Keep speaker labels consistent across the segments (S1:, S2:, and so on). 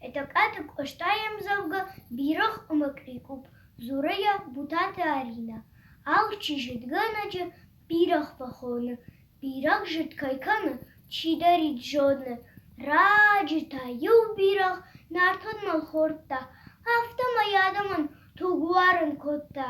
S1: Етӕгкаты Къоста йе мдзӕвгӕ «Бирӕгъ» ӕмӕ «Кърикъупп» дзуры йӕ Бутаты Аринӕ: алчи зыдгӕнӕджы бирӕгъ фӕхоны, бирӕг зыд кӕй кӕны, чидӕрид зоны. Раджы та иу бирӕгъ нартон мӕлхордта, афтӕмӕй адӕмӕн туг уарын кодта.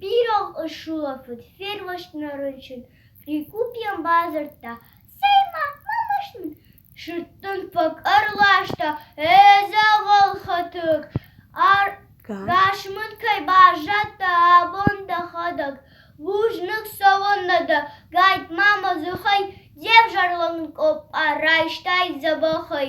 S1: Бирӕгъ ысулӕфыд, фермӕст нӕ рынчын, Прикупьен бадзырдта: «Цӕй-ма, мӕ маст мын сыттын фӕк ӕрласта, эдзӕгъӕл хӕтыг, ӕргас мын кӕй баззадтӕ, абон дӕхӕдӕг. Бузныг цӕуӕннӕ дӕ, гайт, ма мӕ дзыхӕй де взӕрлӕг къоппа, райстай дзӕбӕхӕй».